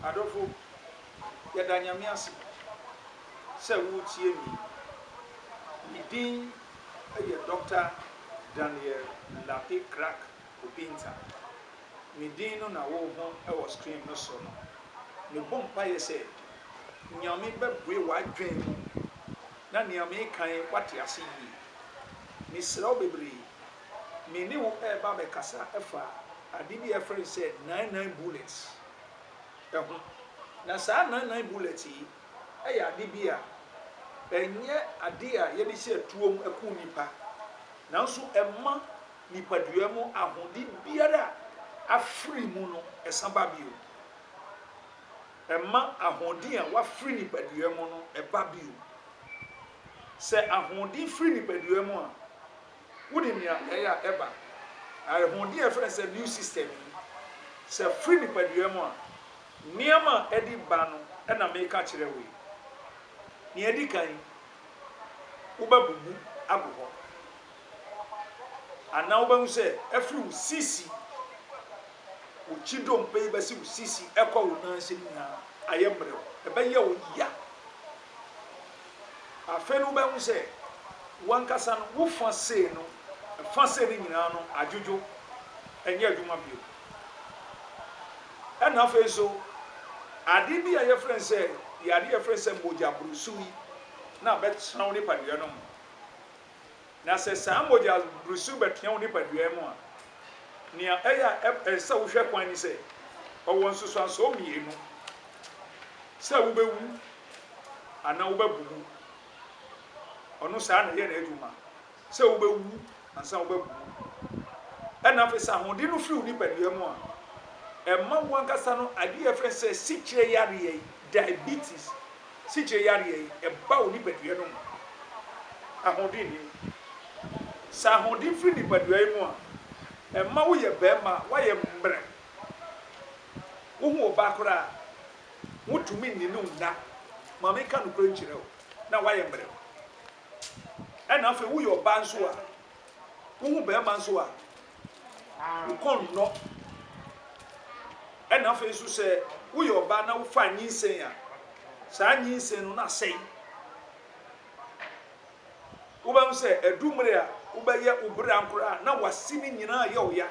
Adɔfo, yɛda Nyame ase sɛ woretie me yi. Me din yɛ Doctor Daniel Lartey Crack Opinta. Me din no na wohu wɔ screen no so no. Mebɔ mpaeɛ sɛ Nyame bɛbue w'adwene mu na nea mereka yi woate ase yie. Mesrɛ wo bebree me ne wo reba abɛkasa afa ade bi a yɛfrɛ no sɛ nine nine bullets ho. Na saa nine nine bullets yi yɛ ade bi a ɛnyɛ ade a yɛde hyɛ atuo mu ku nnipa, nanso ɛma nipadua mu ahode biara a afiri mu no san ba bio. Ɛma ahoɔden a wafiri nipadua mu no ba bio. Sɛ ahoɔden firi nipadua mu a, Wonim nea ɛyɛ a ɛba awerɛhowdi a yɛfrɛ no sɛ new system yi? Sɛ ɛfiri nipadua mu a, nneɛma a ɛde ba no na mereka akyerɛ wo yi. Nea edi kan, wobɛbubu agu hɔ, anaa wobɛhu sɛ ɛfiri wo sisi, wo ti dompe yi bɛsi wo sisi kɔ wo nan ase nyinaa ayɛ mmerɛw. Ɛbɛyɛ wo ya. Afei no wobɛhu sɛ w'ankasa no wo fã sei no, fã sei no nyinaa no adwodwo, ɛnyɛ adwuma bio. Ɛna afei nso, ade bi a yɛfrɛ no sɛ, yadeɛ yɛfrɛ no sɛ mogyaburusu yi na abɛtena wo nipadua no mu. Na sɛ saa mogyaborosu bɛteɛ wo nipadua mu a, nea ɛyɛ a ɛsɛ sɛ wohwɛ kwan ne sɛ, ɔwɔ nsusuansoɔ mmienu, sɛ wobɛwu anaa wobɛbubu. Ɔno saa na ɛyɛ n'adwuma, sɛ wobɛwu ansa wobɛbubu. Ɛna afei sɛ ahoɔden no firi wo nipadua mu a, ɛma wo ankasa no adeɛ yɛfrɛ no sɛ sikyerɛ yareɛ, diabetes, sikyire yareɛ yi ɛba wo nipadua no mu ahoɔden nni mu. Sɛ ahoɔden firi nipadua yi mu a, ɛma wo yɛ barima a wayɛ mmerɛ. Wo ho ɔbaa koraa wo ntumi nni no nna, ma me nka nokorɛ nkyerɛ wo, na wayɛ mmerɛ. Ɛna afei wo yɛ ɔbaa nso a Wohu barima nso a, wo kɔn nnɔ. Ɛna afei nso sɛ woyɛ ɔbaa na wofa nyinsɛn a, saa nyinsɛn no na asɛe. Wobɛhu sɛ ɛdu mmere a wobɛyɛ wo bere ankora a na w'ase no nyinaa yɛ ɔya.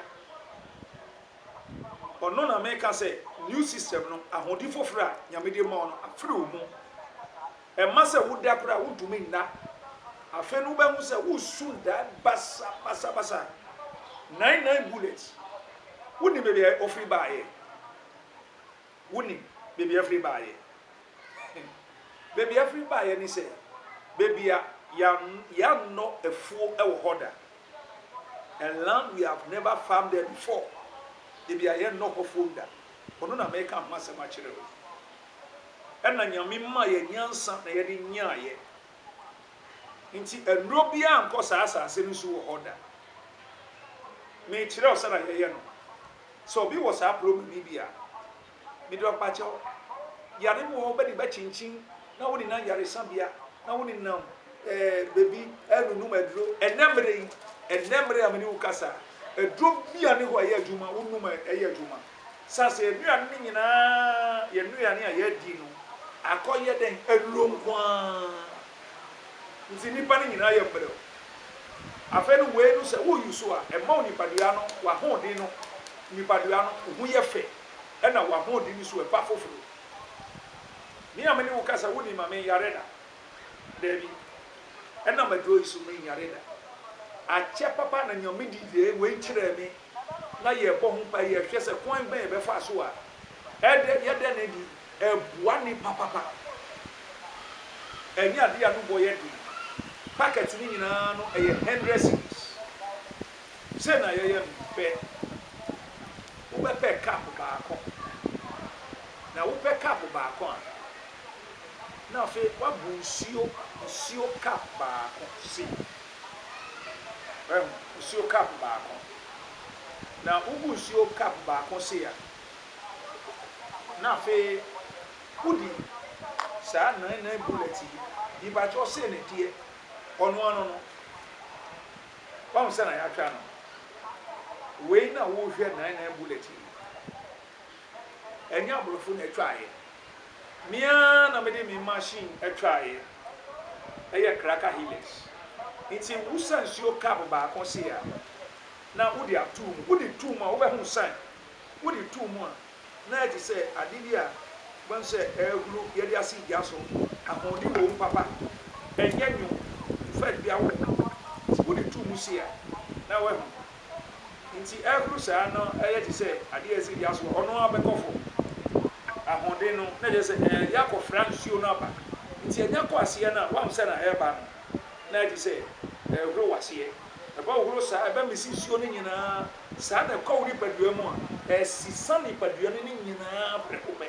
Ɔno na meka sɛ new system no ahode foforo a Nyame de ma wo no afiri wo ho. Ɛmma sɛ woda koraa a, wontumi nna. Afei no wobɛhu sɛ wo su dan basabasabasa. Nine Nine Bullets, wonim baabi a ɔfiri baeɛ? Wonim baabi a ɛfiri baeɛ? Baabi a ɛfiri baeɛ ne sɛ, baabi a yɛannɔ afuo wɔ hɔ da. A land we have never farmed there before, baabi a yɛnnɔ hɔ afuom da. Ɔno na mereka ho asɛm akyerɛ wo yi. na Nyame maa yɛn nyansa na yɛde nyeaeɛ. Nti nnuro biara nkɔ saa asase no so wɔ hɔ da. Mekyerɛ wo sɛdeɛ yɛyɛ no. Sɛ obi wɔ saa ploma no bi a, mede ɔpakyɛ wo. Yare bi wɔ hɔ wobɛde bɛkyinkyin na wonenam yaresabea na wonenam eh, baabi ɛrenunum aduro. Ɛnɛ mmerɛ yi, ɛnɛ mmerɛ a me ne wo kasa, aduro bi a ne hɔ a ɛyɛ adwuma, wonum a ɛyɛ adwuma. Esiane sɛ yɛn nnuane no nyinaa yɛ nnuane a yɛadi no akɔyɛ dɛn? Aduro nko ara nti nnipa no nyinaa yɛ mmerɛw. Afei no wei no sɛ wo use a, ɛma wo nipadua no, w'ahoɔden no, nipadua no wo ho yɛ fɛ ɛna w'ahoɔden no so ɛba foforo. Me a me ne wo kasa wo nim a me nyare da? Dabi. Ɛnam aduro yi so me nyare da. Akyɛ papa na Nyame de wei kyerɛɛ me. na yɛbɔ ho mpae, yɛhwɛ sɛ kwan bɛn yɛbɛfa so a ɛdɛ yɛda no adi, ɛboa nnipa papa. Ɛnyɛ ade a no bɔ yɛ den. Packet no nyinaa no ɛyɛ hundred cedis. Sɛ na yɛyɛ no pɛ. Wobɛpɛ cup baako. Na wopɛ cup baako a, na afei woabɔ nsuo, nsuo cup baako sei. Wahu? Nsuo cup baako. Na wogu nsuo cup baako sei a, na afei wodi saa nnan nnan bullet yi. Mepakyɛw sei na ɛteɛ. Ɔno ano no, wahu sɛ na yɛatwa no. Wei na worehwɛ nnan nnan bullet yi. ɛnyɛ aborɔfo na ɛtwaeɛ, me ara na mede me machine ɛtwaeɛ, ɛyɛ Kraka Hilux, nti wo sa nsuo cup baako sei a, na wode ato mu, wode to mu a wobɛhunu sɛ, wode to mu a na ayɛ te sɛ adeɛ bi a wobɛhu sɛ ɛrehuru yɛde asi gya so, ahoɔden wɔ mu papa, ɛnyɛ nwom, in fact bia wɔ ho, nti wode to mu sei a na woahunu. Nti ɛboro saa no ɛyɛ te sɛ adeɛ a ɛsɛ yɛn aso a ɔno ara bɛkɔ fam. Ahoɔden no na ɛkyerɛ sɛ ɛyɛ akɔfra nsuo no aba. Nti ɛnyɛ kɔ aseɛ no a woahu sɛ na ɛreba no na ayɛ te sɛ ɛrehoro w'aseɛ. Ɛbɛhohoro saa, ɛbɛmese nsuo no nyinaa. Saa na ɛkɔ wo nipadua mu a ɛsesa nipadua no ne nyinaa prɛko pɛ.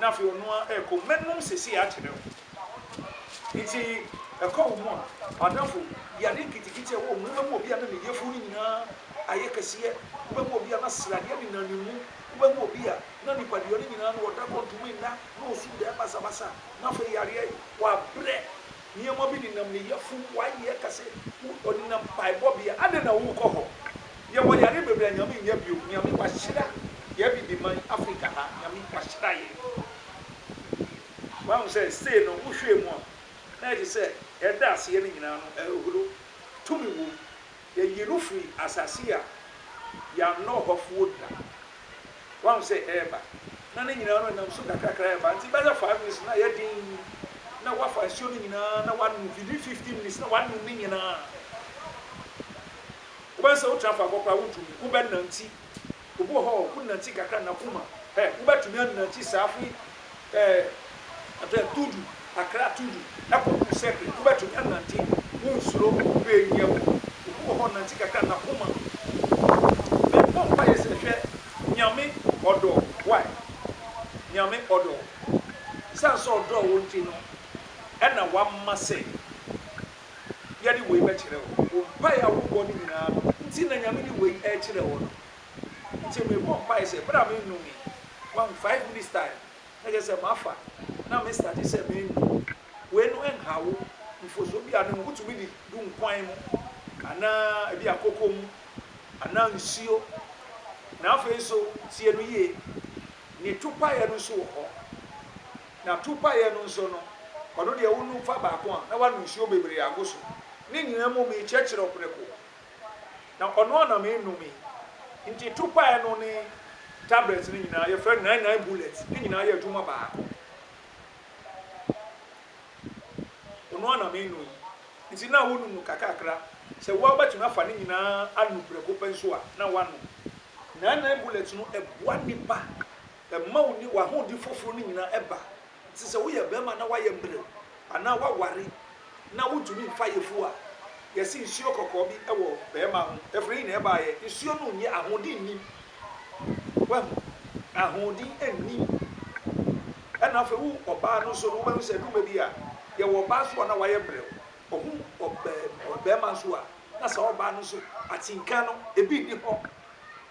na afei ɔno ara rekɔ, mɛnom seesei akyerɛ wo. Enti ɛkɔ wo mu a, m'adamfo, yi ade nketenkete a ɛwɔ wo mu, wobɛma obi a na ne yafunu no nyinaa ayɛ kɛseɛ, wobɛma obi a na sradeɛ nenam ne mu, wobɛma obi a na nipadua no nyinaa no ɔda kɔ ntumi nna, na ɔsu daa basabasa, na afei yareɛ, wabrɛ, Nneɛma bi nenam ne yafunu mu. W'ayɛ ɛka sɛ ɔnenam mpaebɔbea. Adɛn na worekɔ hɔ? Yɛwɔ yare bebree a Nyame nnya biom. Nyame wahyira yɛ Abibiman, Africa ha. Nyame wahyira yɛ. Woahu sɛ sei no wohwɛɛ mu a na ɛte sɛ ɛda aseɛ no nyinaa no ɛhodo tumi wom. Yɛyi no firi asase a yɛannɔ hɔfoɔ da. Woahu sɛ ɛreba, na ne nyinaa no ɛnam so kakrakra reba. Nti bɛyɛ five minutes no na ayɛ den, na woafa nsuo no nyinaa na woanom, within fifteen minutes na woanom ne nyinaa. Wobɛhu sɛ wotena faako koraa wontumi, wobɛnante. Obi wɔ hɔ a, ɔko nantsi kakra n'akoma. Hɛ, wobɛtumi anantsi saa fi eh, atɛ Tudu, Accra Tudu, ɛkɔ Ku Sekre. Wobɛtumi anante, wonsuro, hwɛ nyia wu. Obi wɔ hɔ, ɔnantsi kakra n'akoma. Mebɔ mpaeɛ sɛ, hwɛ, Nyame ɔdɔ, wai, Nyame ɔdɔ. Esiane sɛ ɔdɔɔ wo nti no, ɛna wama sɛ. yɛde wei bɛkyerɛ wo, wo mpaeɛ a wobɔ no nyinaa no nti na Nyame de wei rekyerɛ wo no. Nti mebɔ mpaeɛ sɛ berɛ a mennomee, wahu, five minutes time, na kyerɛ sɛ mafa na me starte sɛ menom, wei no nhaw wo, mfomsoɔ biara nni ho, wotumi di gu nkwan mu, anaa ebia koko mu, anaa nsuo, na afei nso tie no yie, ne topaeɛ no nso wɔ hɔ. Na topaeɛ no nso no, ɔno deɛ wonum fa baako a, na wanu nsuo bebree ago so. Ne nyinaa mu mekyerɛkyerɛ ɔprɛko, na ɔno ara na menome. Nti topaeɛ no ne tablets no nyinaa, yɛfrɛ no nine nine bullets, ne nyinaa yɛ adwuma baako. Ɔno ara na meno yi. Nti na wonum no kakakra. Sɛ wo ara wobɛtumi afa ne nyinaa anu prɛko pɛ nso a, na woanom. Nine nine bullets no, ɛboa nnipa. Mma wo ne w'ahoɔden foforo no nyinaa ɛba te sɛ woyɛ barima na woayɛ mmerɛw anaa woaware na wontumi mfa ayeforo a yɛse nsuo kɔkɔɔ bi wɔ barima ho. Ɛfiri he na ɛbaeɛ? Nsuo no nyɛ, ahoɔden nnim. Woahu? Ahoɔden nnim. Ɛna afei wo ɔbaa no nso no, wobɛhu sɛ ɛduru baabi a, yɛwɔ ɔbaa nso a na wayɛ mmerɛw. Ɔhu ɔbaa, ɔbarima nso a, na saa ɔbaa no nso, atenka no, ebi nni hɔ.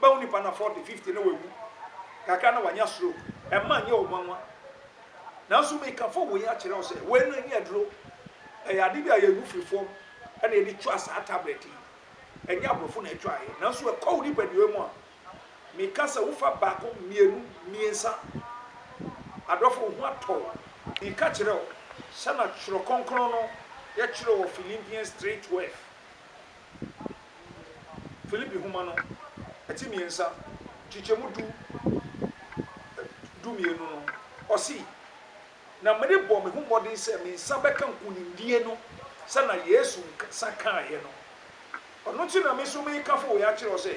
Bɛwo nipa na forty, fifty na wawu, kakra na wanya stroke, ɛmma nyɛ wo nwanwa. Nanso mekafo wei akyerɛ wo sɛ, wei no ɛnyɛ aduro, ɛyɛ ade bi a yɛgu firi fam na yɛde twa saa tablet yi. Ɛnyɛ aborɔfo na ɛtwaeɛ, nanso ɛkɔ wo nipadua mu a, meka sɛ wofa baako, mmienu, mmiɛnsa. Adɔfo, wo ho atɔ wo. Meka kyerɛ wo, sɛnea Twerɛ Kronkron no yɛtwerɛ wɔ Philippians three twelve, Filipi nhoma no, ti mmiɛnsa, nkyekyɛmu du du mmienu no, ɔse, Na merebɔ me ho mmɔden sɛ me nsa bɛka nkonimdie no sɛnea Yesu nsa kaeɛ no. Ɔno nti na me nso mereka afei wei akyerɛ wo sɛ,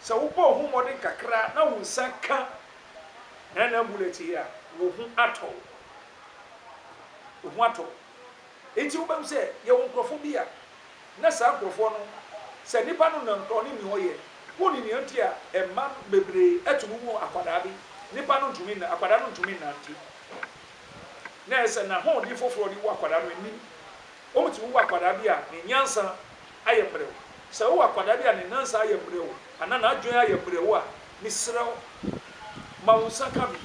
sɛ wobɔ wo ho mmɔden kakra na wo nsa ka nnan-nnan bulɛte yi a, wo ho atɔ wo. Wo ho atɔ wo. Enti wobɛhu sɛ yɛwɔ nkurɔfoɔ bi a na saa nkurɔfoɔ no, sɛ nnipa no nam korɔ ne nea ɔyɛ, wonni nea nti a mma no bebree tumi wu akwadaa bi, nnipa no ntumi nna, akwadaa no ntumi nnante. Na ɛyɛ sɛ n'ahoɔden foforɔ de wo akwadaa no nnim. Wɔtumi wo akwadaa bi a ne nyansa ayɛ mmerɛw. Sɛ wowɔ akwadaa bi a ne nansa ayɛ mmerɛw anaa n'adwene ayɛ mmerɛw a, mesrɛ wo, ma wo nsa ka bi.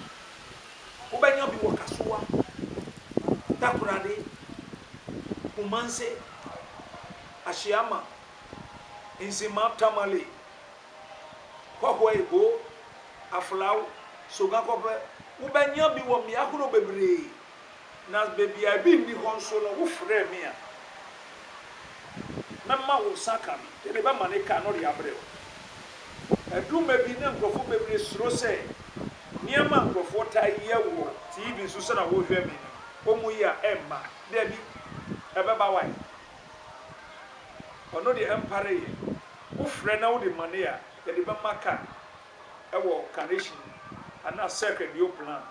Wobɛnya bi wɔ Kasoa, Takoradi, Kumasi, Ahyiama, Nsima, Tamale, Kɔhɔɛ, Ibo, Aflao, Sogakope. Wobɛnya bi wɔ mmea horow bebree. Na baabi a ebi nni hɔ nso no, wofrɛ me a, mɛma wo nsa aka bi. Yɛde bɛma ne ka na ɔde abrɛ wo. Ɛduru mmɛ bi na nkurɔfo bebree suro sɛ Nneɛma a nkurɔfoɔ taa yɛ wɔ TV so sɛdeɛ wohwɛ me no, wɔyi a ɛmma. Dabi, ɛbɛba wae. Ɔno deɛ ɛmpareeɛ. Wofrɛ na wode money a, yɛde bɛma car ɛwɔ carnation anaa circuit deɛ woplan.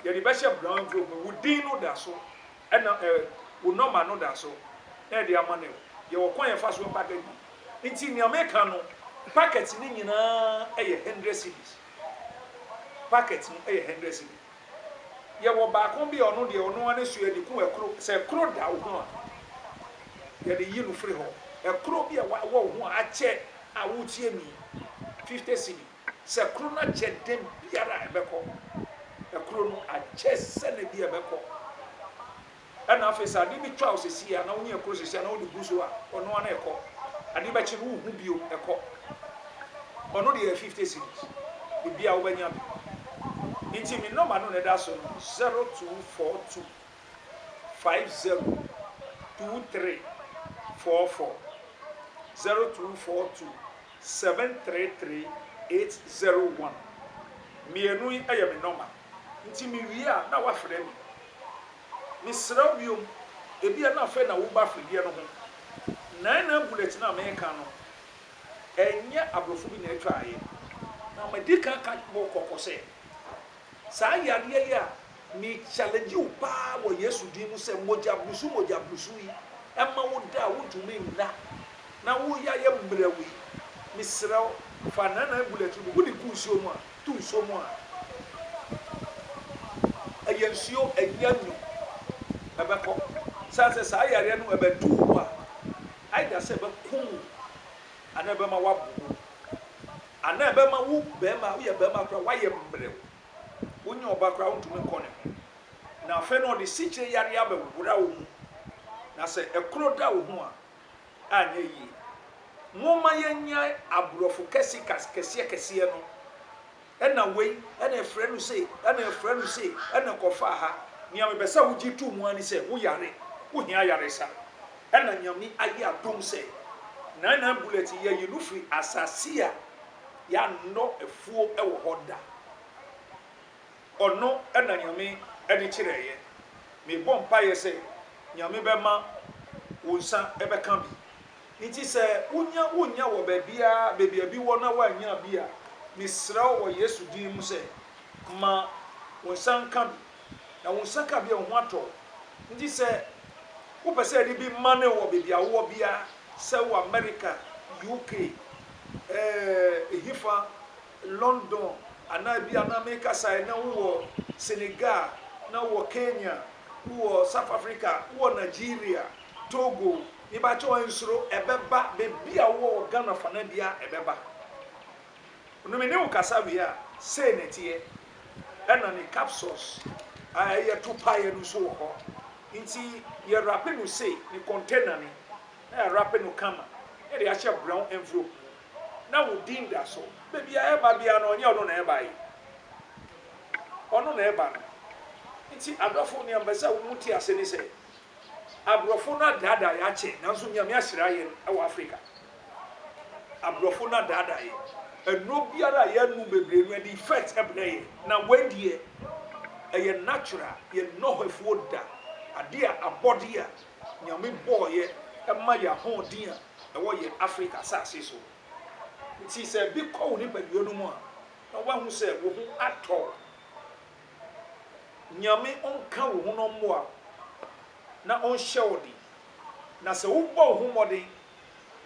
Yɛde bɛhyɛ brown envelope mu, wo din no da so ɛna ɛɛ wo number no da so na yɛde ama no ɛwɔ. Yɛwɔ kwan a yɛfa so package no. Nti nea meka no, packet no nyinaa ɛyɛ hundred cedis. Packet no yɛ hundred cedi. Yɛwɔ baako bi a ɔno deɛ ɔno ara ne so yɛde ku ɛkoro. Sɛ ɛkoro da wo ho a, yɛde yi no firi hɔ. Ɛkoro bi a ɛwɔ wo ho a akyɛ a woretie mu yi, fifty cedi. Sɛ ɛkoro no akyɛ da biara a ɛbɛkɔ. Ɛkoro no akyɛ sɛ na bi a ɛbɛkɔ. Ɛna afei sɛ ade bi twa wo sesei a na wo ne ɛkɔ sesei a na wode gu so a ɔno ara na ɛkɔ. Ade bɛkye no wonhu bio ɛkɔ. Ɔno deɛ yɛ fifty cedis ebi a wobɛnya bi. Nti me nɔma no na ɛda so no zero two four two five zero two three four four zero two four two seven three three eight zero one. Mmienu yi yɛ me nɔma. Nti mewie a na woafrɛ me. Mesrɛ wo biom, ebia na afei na woreba afredeɛ no ho. Nine Nine Bullet no a mereka no, ɛnyɛ aborɔfo bi na ɛtwaeɛ. Na madi kan aka wo kɔkɔ sɛ, saa yadeɛ yi a me challenge wo pa ara wɔ Yesu din mu sɛ mogya brusu mogya brusu yi, ɛma wo da a wontumi nna na wo yɛ ayɛ mmerɛw yi, mesrɛ wo fa Nine Nine Bullet no bi, wode gu nsuo mu a, To nsuo mu a, ɛyɛ nsuo ɛnyɛ nwunu ɛbɛkɔ. Sane sɛ saa yareɛ no ɛbɛduru wo a, either sɛ ɛbɛkum wo anaa ɛbɛma woabobɔ mu. Anaa ɛbɛma wo barima a, woyɛ barima koraa a, woayɛ mmerɛw. Wonyɛ ɔba koraa a, wontumi nkɔ ne ho. Na afei no ɔde sikyire yareɛ abɛwora wo mu. Na sɛ ɛkoro da wo ho a, anyɛ yie. Momma yɛnnyae aborɔfo kɛsekas kɛseɛkɛseɛ no, ɛna wei, ɛna ɛfrɛ no sei, ɛna ɛfrɛ no sei, ɛna kɔfa ha. Nea mepɛ sɛ wogye to mu ara ne sɛ, woyare, wohia ayaresa. Ɛna Nyame ayɛ adom sɛ, Nine Nine Bullet, yɛayi no firi asase a yɛannɔ afuo wɔ hɔ da. Ɔno na Nyame de kyerɛeɛ. Mebɔ mpaeɛ sɛ Nyame bɛma wo nsa bɛka bi. Nti sɛ wonya wonya wɔ baabiara baabi a bi wɔ na woannya bi a, mesrɛ wo wɔ Yesu din mu sɛ ma wo nsa nka bi. Na wo nsa ka bi a wo ho atɔ wo. Nti sɛ wopɛ sɛ yɛde bi ma no wɔ baabi a wowɔ biara, sɛ wɔ America, UK, eh, ehefa London anaa ebia na mekasa ɛ, na wowɔ Senegal, na wowɔ Kenya, wowɔ South Africa, wowɔ Nigeria, Togo, mebakyɛw nsuro, ɛbɛba, baabi a wowɔ wɔ Ghana fana biara ɛbɛba. No me ne wo kasa wie a, sei na ɛteɛ. Ɛna ne capsules a ɛyɛ to paeɛ no nso wɔ hɔ. Nti yɛrape no sei, ne container no, na yɛarape no kama, na yɛde ahyɛ brown envelope mu. na wo din da so. Baabi a ɛba biara no, ɔnyɛ ɔno na ɛbae. Ɔno na ɛba no. Nti adɔfo, nea mepɛ sɛ mo te ase ne sɛ, aborɔfo no adaadaa yɛn akyɛ, nanso Nyame ahyira yɛn wɔ Afrika. Aborɔfo no adaadaa yɛn. Nnuro biara a yɛanom bebree no, ɛde effect brɛ yɛn. Na wei deɛ, ɛyɛ natural, yɛnnɔ hɔ afuo da. Adeɛ a, abɔdeɛ a Nyame bɔeɛ ma yɛn ahoɔden a, ɛwɔ yɛn Afrika asase so. Nti sɛ bi kɔ wo nipadua no mu a, na wahu sɛ wo ho atɔ wo. Nyame ɔnka wo ho na ɔmmoa wo, na ɔnhyɛ wo den. Na sɛ wobɔ wo ho mmɔden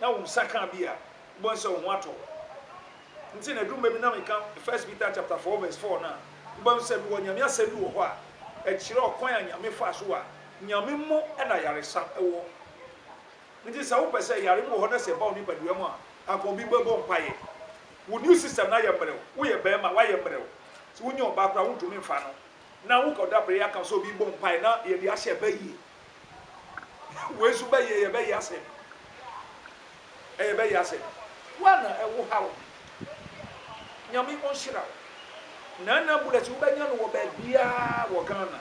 na wo nsa ka bi a, wobɛhu sɛ wo ho atɔ wo. Nti na ɛduru baabi na meka First Peter chapter four verse four no a, wobɛhu sɛ mewɔ Nyame asɛm bi wɔ hɔ a ɛkyerɛ ɔkwan a Nyame faa so a Nyame mu na ayaresa wɔ. Enti sɛ wopɛ sɛ yare no wɔ hɔ na sɛ ɛba wo nipadua mu a, anka obi bɛbɔ mpaeɛ. Wo new system no ayɛ mmerɛw. Woyɛ barima, woayɛ mmerɛw. Sɛ wonya ɔbaa koraa a, wontumi mfa no. Na wokɔda prayer camp sɛ obi rebɔ mpaeɛ na yɛde ahyɛ ɛbɛ yie. Wei nso bɛ yie, ɛyɛ bɛ yie asɛm. Ɛyɛ bɛ yie asɛm. Woa na ɛwo ha wo. Nyame ɔnhyira wo. Nana Bullets wobɛnya no wɔ baabiara wɔ Ghana.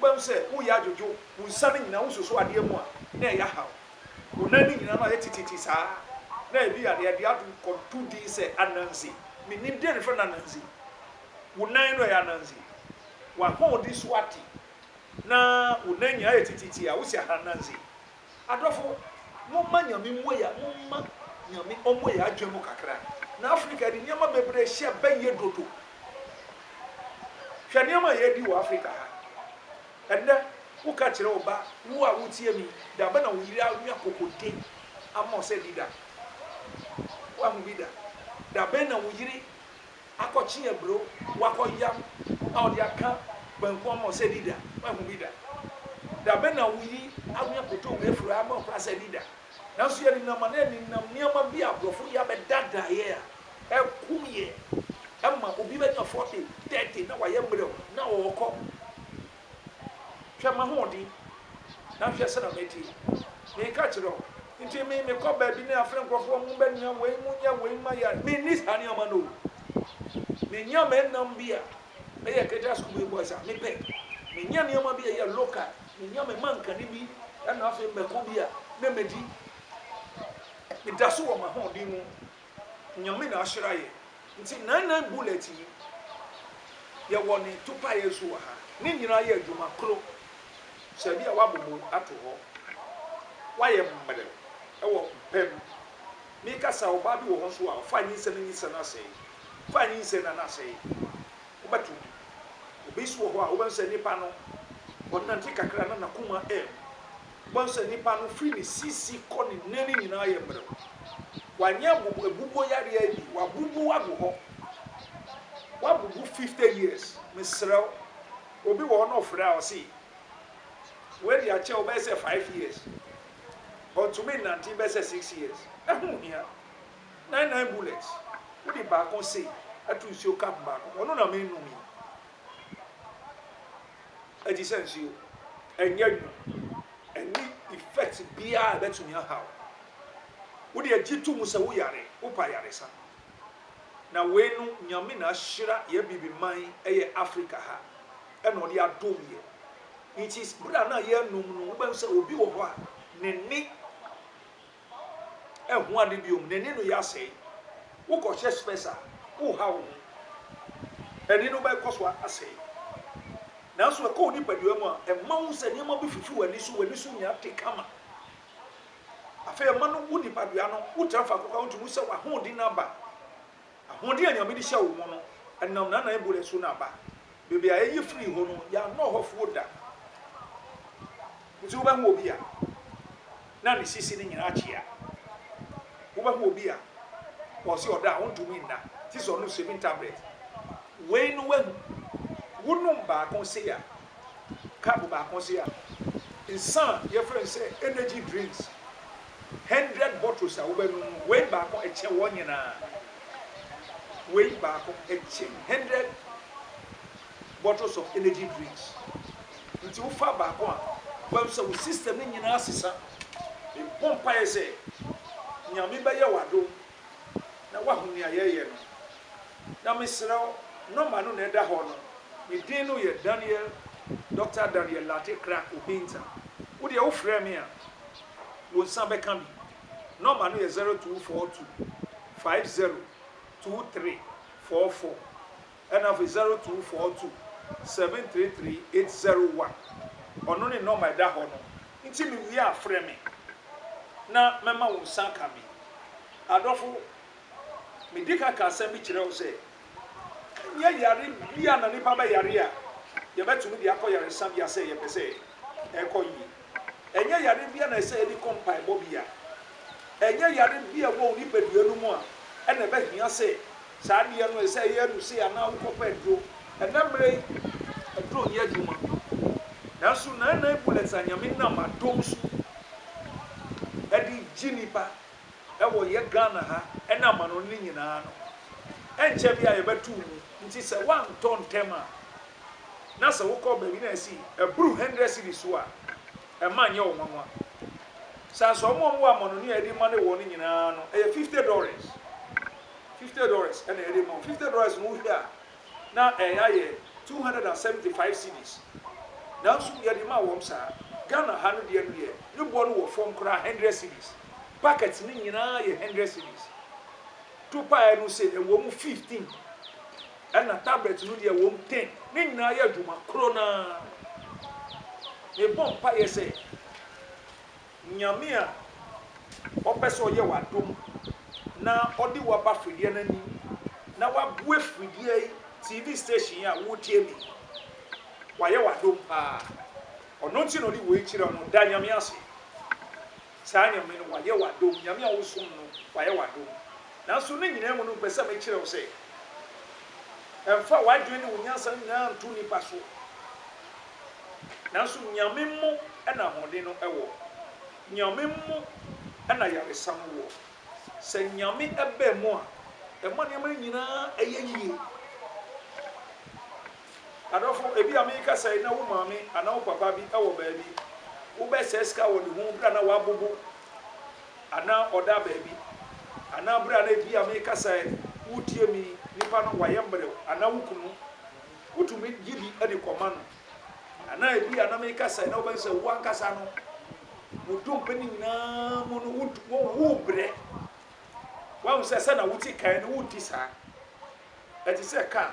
Wobɛhu sɛ wo yɛ adwodwo, wo nsa no nyinaa wosuso adeɛ mu a, na ɛyɛ haw. Wo nan no nyinaa no ayɛ tititi saa. Na ebia deɛ ɛde ato no kɔto din sɛ ananse. Mennim deɛ na ɛfrɛ no ananse. Wo nan no ɛyɛ ananse. W'ahoɔden so ate. Na wo nan nyinaa ayɛ tititi a, wose aha ananse. Adɔfo, momma Nyame mmue yɛ, momma Nyame ɔmmue yɛ adwene mu kakra. Na Africa yɛde nneɛma bebree hyɛ bɛyɛ dodo. Hwɛ nneɛma a yɛredi wɔ Africa ha. Ɛnnɛ, woka kyerɛ wo ba, wo a wotie me yi, da bɛn na wo yere anwa kokode ama wo sɛ di da? Woahu bi da? Da bɛn na wo yere akɔkye aburo, wakɔyam na ɔde aka banku ama wo sɛ di da. Woahu bi da? Da bɛn na woyi anwea kotowire afiri hɔ ama wo koraa sɛ di da? Nanso yɛnenam anaa nenam nneɛma bi a aborɔfo de abɛda daeɛ a ɛkum yɛn. Ɛma obi bɛnya 40, 30 na wayɛ mmerɛw na ɔrekɔ. Hwɛ m'ahoɔden, na hwɛ sɛnea mete yi. Meka kyerɛ wo, enti me, mekɔ baabi ne afrɛ nkurɔfoɔ a wɔbɛnoa wei, monyɛ wei mma yɛn. Menni saa nneɛma no o. Menya me nnam bi a ɛyɛ Ketewa School Big Boys a, mepɛ. Menya nneɛma bi a ɛyɛ local, menya me mankani bi na afei mako bi a, na medi. Meda so wɔ m'ahoɔden mu, Nyame na ahyira yɛ nti nine nine bullet yi yɛ wɔ ne topaeɛ so wɔ ha ne nyinaa yɛ adwuma koro sɛ bi a wabobo ato hɔ wayɛ mmerɛ ɛwɔ pɛ mu me kasa ɔbaa bi wɔ hɔ nso a ɔfa nyinsɛ ne nyinsɛ no asɛe fa nyinsɛ na no asɛe wobɛto bi obi nso wɔ hɔ a wobɛhu sɛ nipa no ɔnante kakra na nakoma ɛɛm Wobɛhu sɛ nipa no firi ne sisi kɔ ne nan nyinaa yɛ mmerɛw. Wanyɛ abubu abubuo yareɛ yi bi. Wabubu agu hɔ. Wabubu fifty years. Mesrɛ wo, obi wɔ hɔ na ɔfrɛ a ɔse wei deɛ akyɛ wo bɛyɛ sɛ five years. Ɔntumi nnante bɛyɛ sɛ six years. Ɛho hia. Nine nine bullets. Wode baako se to nsuo cup baako mu. Ɔno na merenom yi. ɛte sɛ nsuo. Ɛnyɛ nwunu. Ɛnni effect biara a ɛbɛtumi aha wo. Wodeɛ gye to mu sɛ wo yare, wopɛ ayaresa. Na wei no Nyame na ahyira yɛ abibi man ɛyɛ Africa ha ɛna ɔde adom yɛ. Nti berɛ a na yɛrenom no wobɛhu sɛ obi wɔ hɔ a n'ani. Ɛho ade bio, n'ani no yɛ asɛe. Wokɔhyɛ spɛs a, woha wo ho. Ani no bɛkɔ so asɛe. Nanso ɛkɔ wo nipadua mu a, ɛma wohu sɛ nneɛma bi fifi w'ani so, w'ani so nya te kama. Afei ɛma no wo nipadua no, wotra faako koraa a wontumi hu sɛ w'ahoɔden no aba. Ahoɔden a Nyame de hyɛ wo mo no, ɛnam Nana Ebule so na aba. Baabi a ɛye firi hɔ no, yɛannɔ hɔ foɔ da. Nti wobɛho obi a na ne sisi no nyinaa kyea. Wobɛho obi a ɔse ɔda a ɔntumi nna, te sɛ ɔnom seven tablet. Wei no wahu. Wonom baako se a, cup baako se a, nsa a yɛfrɛ no sɛ energy drinks, hundred bottles a wobɛnom no, wei baako kyɛn wɔn nyinaa. Wei baako kyɛn hundred bottles of energy drinks. Nti wofa baako a, wobɛhu sɛ wo system no nyinaa sesa. Mebɔ mpaeɛ sɛ Nyame bɛyɛ wo adom na woahu nea yɛreyɛ no. Na mesrɛ wo, nɔma no na ɛda hɔ no. Me din no yɛ Daniel, Doctor Daniel Lartey Crack Obinza. Wo deɛ wofrɛ me a, wo nsa bɛka bi. Nɔma no yɛ zero two four two five zero two three four four ɛna afei zero two four two seven three three eight zero one. Ɔno ne nɔma ɛda hɔ no. Nti me wie a frɛ me na mɛma wo nsa aka me. Adɔfo, me di kan ka asɛm bi kyerɛ wo sɛ, ɛnyɛ yare biara na nipa bɛyare a yɛbɛtumi de akɔ yaresabea sɛ yɛpɛ sɛ ɛkɔ yie. Ɛnyɛ yare bi a na ɛsɛ yɛde kɔ mpaebɔ bea. Ɛnyɛ yare bi a ɛwɔ wo nipadua no mu a ɛna ɛbɛhia sɛ saa adeɛ no ɛsɛ ɛyɛ aduru sei anaa wokɔpɛ aduro. Ɛnnɛ mmerɛ yi, aduro nyɛ adwuma. Nanso Nana Bullets a Nyame nam adom so de gye nnipa wɔ yɛ Ghana ha ne amanɔne no nyinaa no, ɛnkyɛ biaa yɛbɛto wo mu. Nti sɛ woantɔ ntɛm a, na sɛ wokɔ baabi na ɛsi ɛboro hundred cedis so a, ɛmma nyɛ wo nwanwa. San so wɔn a wɔwɔ amanɔne a yɛde ma no wɔ no nyinaa no, ɛyɛ fifty dɔres. Fifty dɔres na yɛde ma wo. Fifty dɔres no wohwɛ a, na ɛya yɛ two hundred and seventy five cedis nanso yɛde ma wɔm saa Ghana ha no deɛ no deɛ ne boɔ no wɔ fɔm koraa hundred cedis packet no nyinaa yɛ hundred cedis topaɛ no se ɛwɔm fifteen ɛna tablet no deɛ ɛwɔm ten ne nyinaa yɛ adwuma koro no ara mebɔ mpaeɛ sɛ Nyame a ɔpɛ sɛ ɔyɛ wo adom na ɔde wo aba fridie no anim na wabue fridie yi, TV station yi a woretie me yi, wayɛ wo adom paa. Ɔno nti na ɔde wei kyerɛ wo no, da Nyame ase. Saa Nyame no, wayɛ wo adom. Nyame a wosom no, wayɛ wo adom. Nanso ne nyinaa mu no, mepɛ sɛ mekyerɛ wo sɛ, mfa w'adwene ne wo nyansa nyinaa nto nnipa so. Nanso Nyame mu na ahoɔden no wɔ. Nyame mu na ayaresa no wɔ. Sɛ Nyame ba mu a, ɛma nneɛma no nyinaa yɛ yie. Adɔfo, ebia merekasa yi na wo maame anaa wo papa bi wɔ baabi. Wobɛsɛe sika wɔ ne ho berɛ a na wabobo anaa ɔda baabi. Anaa berɛ a na ebia merekasa yi, woretie me yi, nipa no wayɛ mmerɛw anaa wo kunu. Wotumi gye bi de kɔma no. Na na ebia na meka sɛ na wobɛhu sɛ wo ankasa no, wo dompe no nyinaa mu no, wod- wo- wobrɛ. Woahu sɛ sɛ na wote kan no, wonte saa. Ɛte sɛ kaa.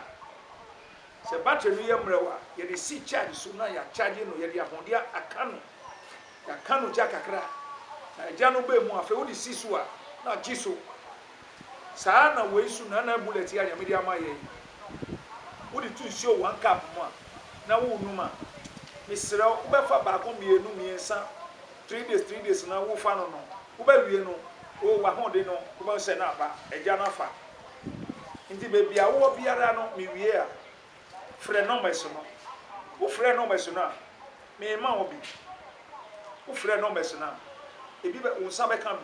Sɛ battery no yɛ mmerɛw a, yɛde si charge so na yɛakyagye no, yɛde ahode a- aka no, yɛaka no gya kakra, na gya no ba mu a, afei wode si so a, na agye so. Saa na wei so na na bullet yi a Nyame de ama yɛ yi. Wode to nsuo one cup mu a, na worenom a, mesrɛ wo, wobɛfa baako, mmienu, mmiɛnsa, three days, three days na wofa no nom. Wobɛwie no, oh, w'ahoɔden no, wobɛhu sɛ na aba, agya no afa. Nti baabi a wowɔ biara no, mewie a, frɛ numbers no. Wofrɛ numbers no a, merema wo bi. Wofrɛ numbers no a, ebi bɛ, wo nsa bɛka bi.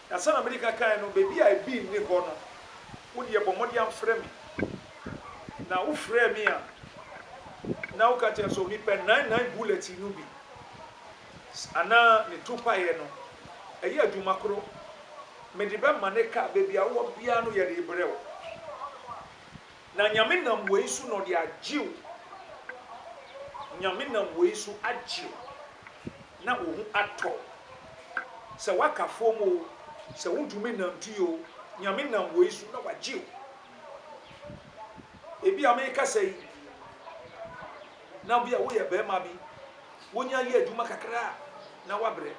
Na sɛnea mede ka kae no, baabi a ebi nni hɔ no, wo deɛ bɔ mmɔden ara frɛ me. Na wofrɛɛ me a, na woka kyerɛ me sɛ, Onipa, nine nine bullet yi no bi anaa ne topaeɛ no, ɛyɛ adwuma koro. Mede bɛma ne kaa. Baabi a wowɔ biara no, yɛde rebrɛ wo. Na Nyame nam wei so na ɔde agye wo. Nyame nam wei so agye wo na wo ho atɔ wo. Sɛ woaka fam o, sɛ wontumi nnante o, Nyame nam wei so na wagye wo. Ebi a mekasa yi, na bi a woyɛ barima bi, wonya yɛ adwuma kakra a, na wabrɛ.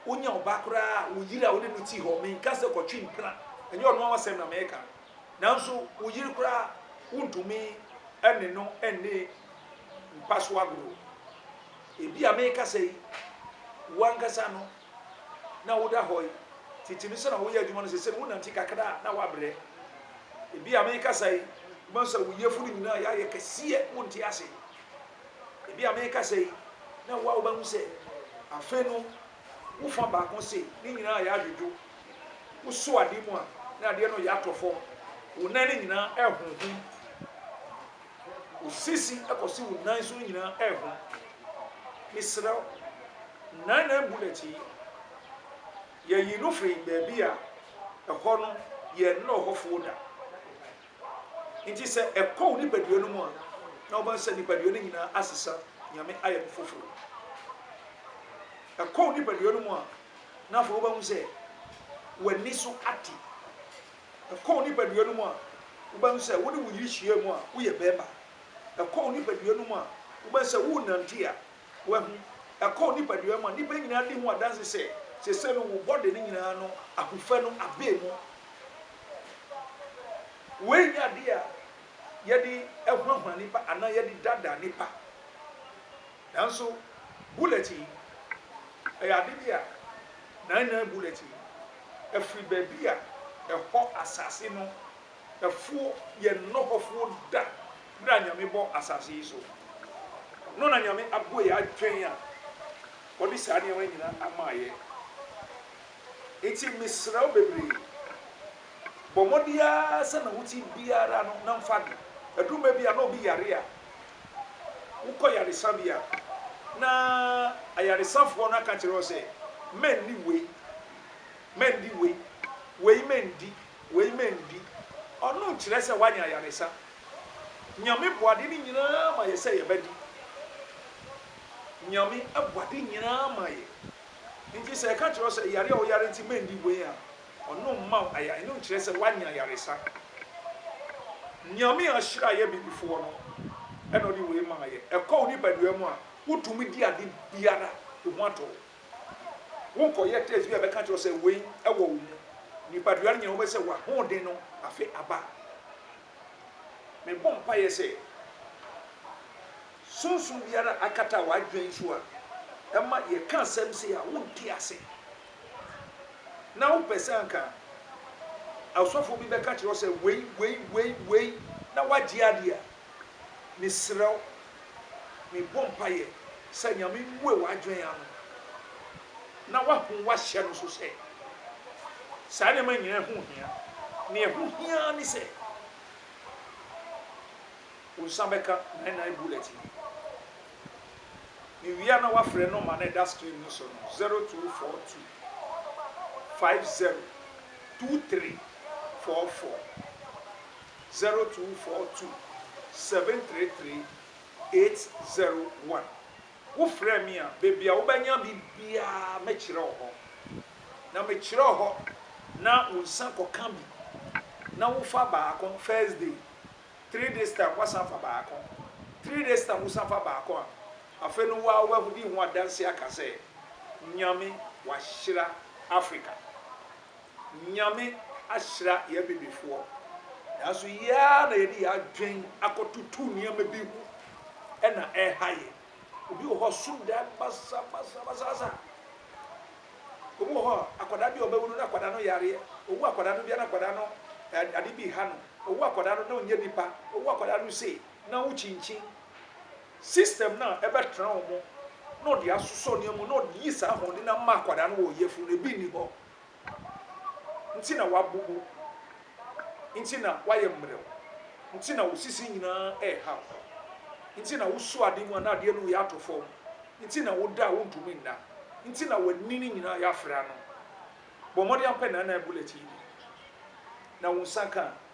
Wonya ɔba koraa a, wo yere a wode no te hɔ, menka sɛ kɔtwe mpena, ɛnyɛ ɔno ara asɛm na mereka no, nanso wo yere koraa wontumi ne no nne mpa so agorɔ. Ebia mekasa yi, wo ankasa no na woda hɔ yi, tete no sɛ na woyɛ adwuma no, sese no wonante kakra a na woabrɛ. Ebia mekasa yi, wobɛhu sɛ wo yafunu nyinaa yɛayɛ kɛseɛ, wonte ase. Ebia merekasa yi na wo a wobɛhu sɛ afe no wo fa baako se ne nyinaa ayɛ adwodwo. Wosɔ adeɛ mu a na adeɛ no reyɛ atɔ fam. Wo nan no nyinaa rehonhom. Wo sisi kɔsi wo nan so no nyinaa rehom. Mesrɛ wo, nine nine bullet yi, yɛyi no firi baabi a ɛhɔ no yɛnnɔ hɔfoɔ da. Enti sɛ ɛkɔ wo nipadua no mu a, na wobɛhu sɛ nipadua no nyinaa asesa, Nyame ayɛ no foforo. Ɛkɔ wo nipadua no mu a, na afei wobɛhu sɛ w'ani so ate. Ɛkɔ wo nipadua no mu a, wobɛhu sɛ wo ne wo yere hyia mu a, woyɛ bɛrima. Ɛkɔ wo nipadua no mu a, wobɛhu sɛ worenante a, Wahu? Ɛkɔ wo nipadua mu a, nnipa nyinaa di ho adanse sɛ, seesei no wo bɔde no nyinaa no, ahofɛ no abee mu. Wei nyɛ adeɛ a yɛde hunahuna nnipa anaa yɛde daadaa nnipa. Nanso bullet yi, ɛyɛ ade bi a, nine nine bullet yi, ɛfiri baabi a ɛhɔ asase no ɛfoɔ yɛ nnɔ hɔfoɔ da berɛ a Nyame bɔ asase yi so no na Nyame abɔ yɛ adwen a ɔde saa nneɛma no nyina ama yɛ nti mesrɛ wo bebree bɔ mmɔde ara sɛ na wote biara no na mfa de ɛduru mɛ bi a na obi yare a wokɔ yaresa bi a na ayaresafoɔ no aka kyerɛ wo sɛ mɛnni wei mɛndi wei wei mɛndi Wei mandi. Ɔno nkyerɛ sɛ woanya ayaresa. Nyame bɔ ade no nyinaa ma yɛ sɛ yɛbɛdi. Nyame bɔ ade nyinaa ma yɛ. Nti sɛ yɛka kyerɛ wo sɛ yare a woyare nti mandi wei a, ɔno mma wo ayare, ɛno nkyerɛ sɛ woanya ayaresa. Nyame a ɔhyira yɛ bibifoɔ no na ɔde wei ma yɛ. Ɛkɔ wo nipadua mu a, wotumi di ade biara, wo ho atɔ wo. Worekɔyɛ test bi a ɛbɛka akyerɛ wo sɛ wei wɔ wo mu. Nipadua no nyinaa wobɛhu sɛ w'ahoɔden no afe aba. Mebɔ mpaeɛ sɛ sunsum biara a akata w'adwene so a ɛma yɛka asɛm sei a wonte ase na wopɛ sɛ anka ɔsɔfoɔ bi bɛka kyerɛ wo sɛ wei, wei, wei, wei na woagye adeɛ a, Mesrɛ wo, mebɔ mpaeɛ sɛ Nyame mmue w'adwene ano na woahu woahyɛ no so sɛ saa nneɛma nyinaa ho hia. Nea ɛho hia ara ne sɛ wo nsa bɛka nine nine bullet no. Mewie a na woafrɛ nɔma no a ɛda screen no so no, 0242 50 2344. zero two four two seven three three eight zero one Wo frɛ me a, baabi a wobɛnya me biara mɛkyerɛ wo hɔ, na mekyerɛ wo hɔ na wo nsa kɔka bi na wofa baako first day, three days time woasan afa baako, three days time wosan fa baako a, afei no wo ara w'ahodi ho adanse aka sɛ Nyame wahyira Africa. Nyame ahyira yɛ Abibifoɔ, nanso yɛ ara na yɛde yɛ adwen akɔtoto nneɛma bi ho na ɛreha yɛ. Obi wɔ hɔ a ɔso da basabasabasabasa. Obi wɔ hɔ a akwadaa bi a ɔbɛwo no na akwadaa no yareɛ. Owo akwadaa no bi a na akwadaa no eh, ade bi ha no. Owo akwadaa no na ɔnyɛ nipa. Owo akwadaa no sei na wokyinkyin. System no a ɛbɛtra wɔn mu na ɔde asosɔ nneɛma mu na ɔde yi saa ahoɔden no ama akwadaa no wɔ ɔyafunu no, ebi nni hɔ. Nti na wabubu, nti na wayɛ mmerɛw, nti na wo sisi nyinaa rehaw, nti na woso ade mu a na adeɛ no reyɛ ato fam, nti na woda a wontumi nna, nti na w'ani no nyinaa yɛ afra no. Bɔ mmɔden ara pɛ na na bullet yi bi, na wo nsa ka a,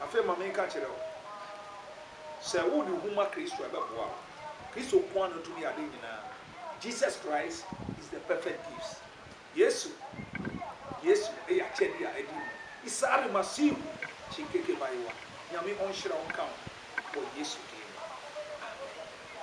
Afei ma menka nkyerɛ wo, sɛ wode ho ma Kristo a ɛbɛboa wo. Kristo nko ara na otumi yɛ ade nyinaa. Jesus Christ is the perfect gifts. Yesu, Yesu yɛ akyɛde a adi mu. Isare Masihu Chinkeke Bayiwa, Nyame ɔnhyira wo nka wo ho wɔ Yesu din mu. Amen.